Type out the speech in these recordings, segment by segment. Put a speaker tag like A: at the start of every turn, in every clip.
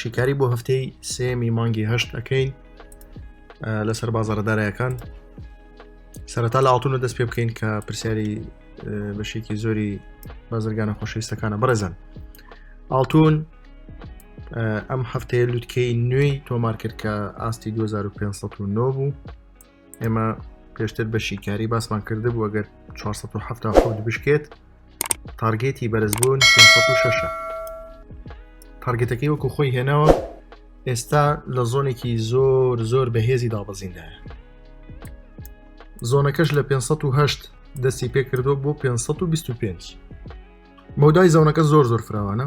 A: شیکاری بۆ هەفتەی سێمی مانگی هەشت ئەەکەین لەسەر بازارەدارایەکان سەرەتا لە ئاڵتونە دەست پێ بکەین کە پرسیاری بەشێکی زۆری بازرگانە خۆشەویستەکانە بڕێزن ئاڵتون ئەم هەفتەیە لوتکەی نوێی تۆمار کرد کە ئاستی 2509 بوو ئێمە پێشتر بە شیکاری باسمان کرد بوو ئەگەر 1970 بشکێت تارگێتی بەرزبوون 6 تارگێتەکەی وەکو خۆی هێناوە ئێستا لە زۆنێکی زۆر زۆر بەهێزی دابەزیندایە زۆنەکەش لە 508 دەستی پێکردو بۆ 525 مەودای زۆنەکە زۆر زۆر فراوانە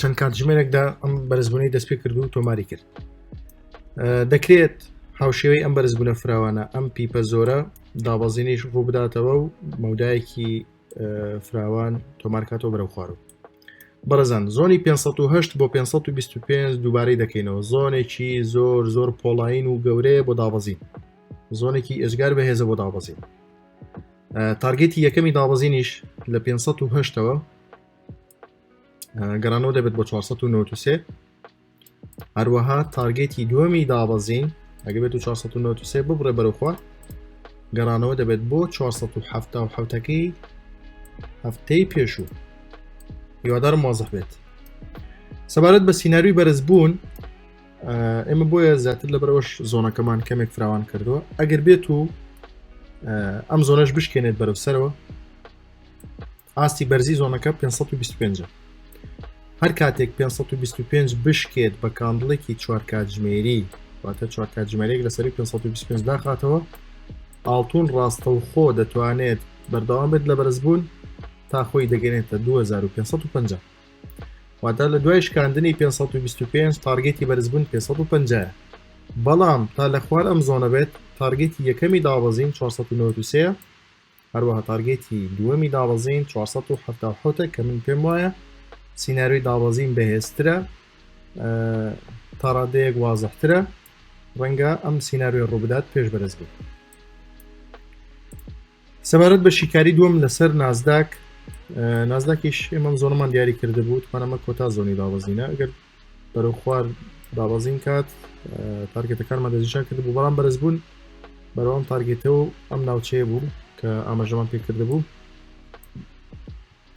A: چەند کاتژمێرێکدا ئەم بەرزبوونەی دەست پێ کرد و تۆماری کرد دەکرێت هاوشێوەی ئەم بەرزبوونە فراوانە ئەم پیپە زۆرە دابەزینیش ڕوو بداتەوە و مەودایەکی فراوان تۆمارکاتەوە بەرەو خوارو بەڕزان زۆنی 508 بۆ 525 دووبارەی دەکەینەوە زۆنێکی زۆر زۆر پۆڵین و گەورەیە بۆ دابەزین زۆنێکی ئێجگار بەهێزە بۆ دابەزین تارگێتی یەکەمی دابەزینیش لە 508ەوە گەڕانەوە دەبێت بۆ 1993 هەروەها تارگێتی دووەمی دابەزین ئەگە بێت و 1993 ببڕێ بەرەخوا گەڕانەوە دەبێت بۆ 1970ەکەی هەفتەی پێشوو هیوادارم وازح بێت سەبارەت بە سینناروی بەرزبوون ئێمە بۆیە زیاتر لە بەرەوەش زۆنەکەمان کەمێک فراوان کردووە ئەگەر بێت و ئەم زۆنەش بشکێنێت بەرەو سەرەوە ئاستی بەرزی زۆنەکە پێنج سەد و بیست و پێنج ە. هەر کاتێک پێنج سەد و بیست و پێنج بشکێت بە کاندڵێکی چوار کاتژمێری واتە چوار کاتژمێرێک لەسەری پێنج سەد و بیست و پێنج داخاتەوە ئاڵتون ڕاستەوخۆ دەتوانێت بەردەوام بێت لە بەرزبوون تا خۆی دەگەنێتە 2550 واتە لە دوای شکاندنی 525 تارگێتی بەرزبوون 550 بەڵام تا لە خوار ئەم زۆنە بێت تارگێتی یەکەمی دابەزین 493 هەروەها تارگێتی دووەمی دابەزین چوار سەد و حەفتا و حەوت ە کە من پێم وایە سیناریۆی دابەزین بەهێزترە ئە تا ڕادەیەک وازەحترە ڕەنگە ئەم سیناریۆی ڕووبدات پێش بەرز بێت سەبارەت بە شیکاری دووەم لەسەر نازداک ئە، نازداکیش ئێمەم زۆنمان دیاری کرده بوو توانەمە کۆتا زۆنی دابەزینە ئەگەر بەرەو خوار دابەزین کات تارگێتەکانمان دەستنیشان کرد بوو بەڵام بەرز بوون بەرەوەم تارگێتەوە ئەم ناوچەیە بوو کە ئاماژەمان پێکرد بوو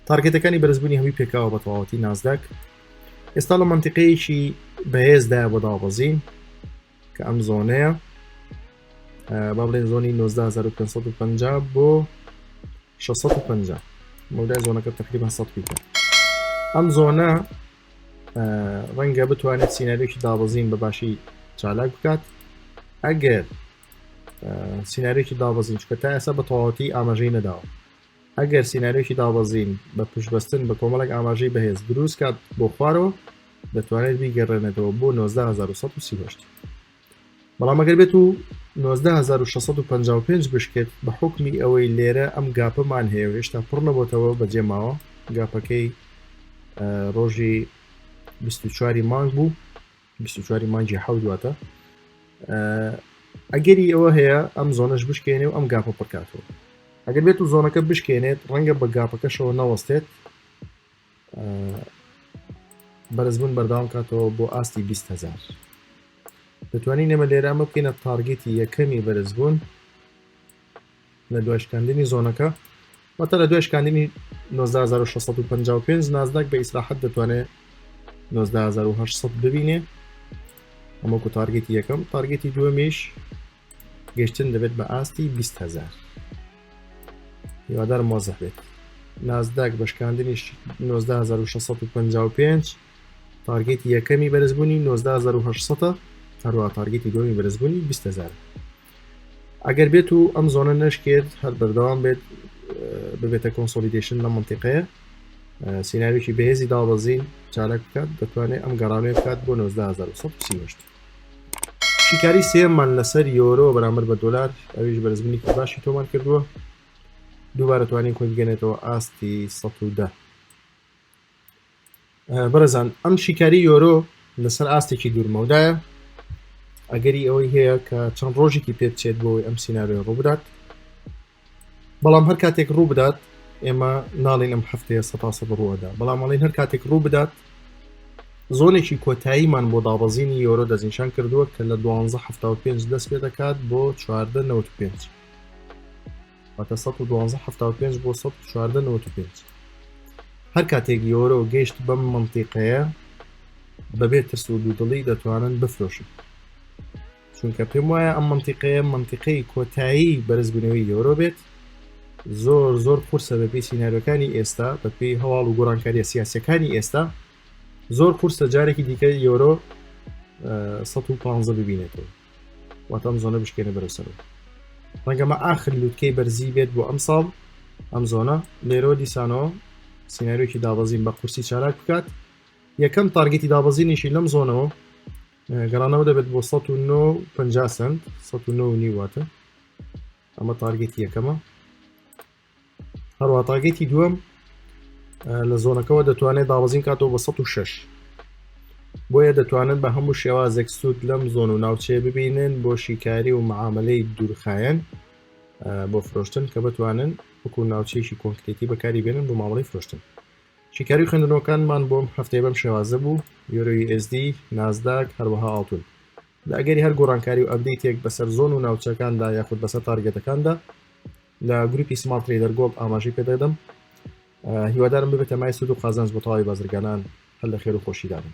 A: تارگێتەکانی بەرزبوونی هەمی پێکاوە بە تەواوەتی نازداک ئێستا لە منتیقەیەکی بەهێزدا بۆ دابەزین کە ئەم زۆنەیە با بڵێن زۆنی 1950 بۆ 650 مەودای زۆنەکە تقریبا 100 پیتە ئەم زۆنە ڕەنگە بتوانێت سینناریۆکی دابەزین بە باشی چالاک بکات ئەگەر سینناریۆکی دابەزین چکە تا ئێستا بە تەواوەتی ئاماژەی نەداوە ئەگەر سینناریۆکی دابەزین بە پشتبەستن بە کۆمەڵک ئاماژەی بەهێز دروست کات بۆ خوارەوە دەتوانێت بیگەڕێنێتەوە بۆ 1970 بەڵام ئەگەر بێت و 19655 بشکێت بە حکمی ئەوەی لێرە ئەم گاپەمان هەیە و هێشتا پڕ نەبتەوە بەجێ ماوە گاپەکەی ڕۆژی 24 مانگ بوو 24 مانگی حەودواتە ئەگەری ئەوە هەیە ئەم زۆنەش بشکێنێ و ئەم گاپە پڕکاتەوە ئەگەر بێت و زۆنەکە بشکێنێت ڕەنگە بە گاپەکەشەوە نەوەستێت بەرزبوون بەرداوام کاتەوە بۆ ئاستی 20هزار دەتوانین نەمە لێرە ئەمە بکەینە تارگێتی یەکەمی بەرزبوون لە دوای شکاندنی زۆنەکە واتە لە دوای شکاندنی 1965 نازداک بە ئیسراحەت دەتوانێت 1970 ببینێ ئەمەکو تارگێتی یەکەم تارگێتی دووەمیش گەشتن دەبێت بە ئاستی 20 هزار هیوادارم وازح بێت نازداک بەشکاندنی 1965 تارگێتی یەکەمی بەرزبوونی 1970 هەروە تارگێتی دومی بەرزبوونی 20 هزار ئەگەر بێت و ئەم زۆنە نشکێت هەر بەردەوام بێت ببێتە کۆنسۆلیدیشن لە منتیقەیە سیناویی بەهێزی دابەزین چالاک بکات دەتوانێت ئەم گەڕانێ بکات بۆ 1970 سیهشت شیکاری سێمان لەسەر یۆرۆ بەرامبەر بە دۆلار ئەویش بەرزبنیکی باشی تۆمان کردووە دووبارە توانین خۆی بگەنێتەوە ئاستی ١10 بەرەزان ئەم شیکاری یۆرۆ لەسەر ئاستێکی دوورمەودایە ئەگەری ئەوەی هەیە کە چەند ڕۆژێکی پێبچێت بۆی ئەم سینناێ ڕووبدات بەڵام هەر کاتێک ڕوو بدات ئێمە ناڵین ئەم هەفتەیە سەتاسەد ڕووەدا بەڵام ئەڵین هەر کاتێک ڕوو بدات زۆنێکی کۆتاییمان بۆ دابەزینی یۆرۆ دەستنیشان کردووە کە لە 1275 دەست پێ دەکات بۆ 1995 واتە 1975 بۆ 1995 هەر کاتێک یۆرۆ گەشت بەم منتیقەیە بەبێت ترس و دوودڵی دەتوانن بفرۆشن چونکە پێم وایە ئەم منتیقەیە منتیقەی کۆتایی بەرزبوونەوەی یۆرۆ بێت زۆر زۆر قورسە بەپی سینناەرەکانی ئێستا بەپی هەواڵ و گۆڕانکاریە سیاسەکانی ئێستا زۆر قورسە جارێکی دیکە یۆرۆ 115 ببینێتەوە واتەم زۆنە بشکێنە بەرەسەرەوە ڕەنگەمە ئاخر لووتکەی بەرزی بێت بۆ ئەم ساڵ ئەم زۆنە لێرۆ دیسانەوە سینناریۆکی دابەزین بە قورسی چالاک بکات یەکەم تارگەتی دابەزینیشی لەم زۆنەوە گەڕانەوە دەبێت بۆ 1950 سنت 1990 واتە ئەمە تارگێتی یەکەمە هەروە تاگێتی دووەم لە زۆنەکەەوە دەتوانێت داوەزین کاتەوە بە 16 بۆیە دەتوانن بە هەموو شێوازێک سوود لەم زۆن و ناوچەیە ببینن بۆ شیکاری و معاملەی دوورخایەن بۆ فرۆشتن کە بتوانن وەکو ناوچەیەکی کۆنکرێتی بەکاری بێنن بۆ مامەڵی فرۆشتن شیکاری خوێندنەوەکانمان بۆم هەفتەی بەم شێوازە بوو یۆرۆی ئSD نازداک هەروەها ئاڵتون لە ئەگەری هەر گۆڕانکاری و ئەبدەیتێک بەسەر زۆن و ناوچەکاندا یاخود بەسەر تارگەتەکاندا لە گروپی سمارت تریدەر گۆڵد ئاماژەی پێدەدەم هیوادارم ببێتە مای سود و قازانج بۆ تەواوی بازرگانان هەر لە خێر و خۆشیدابن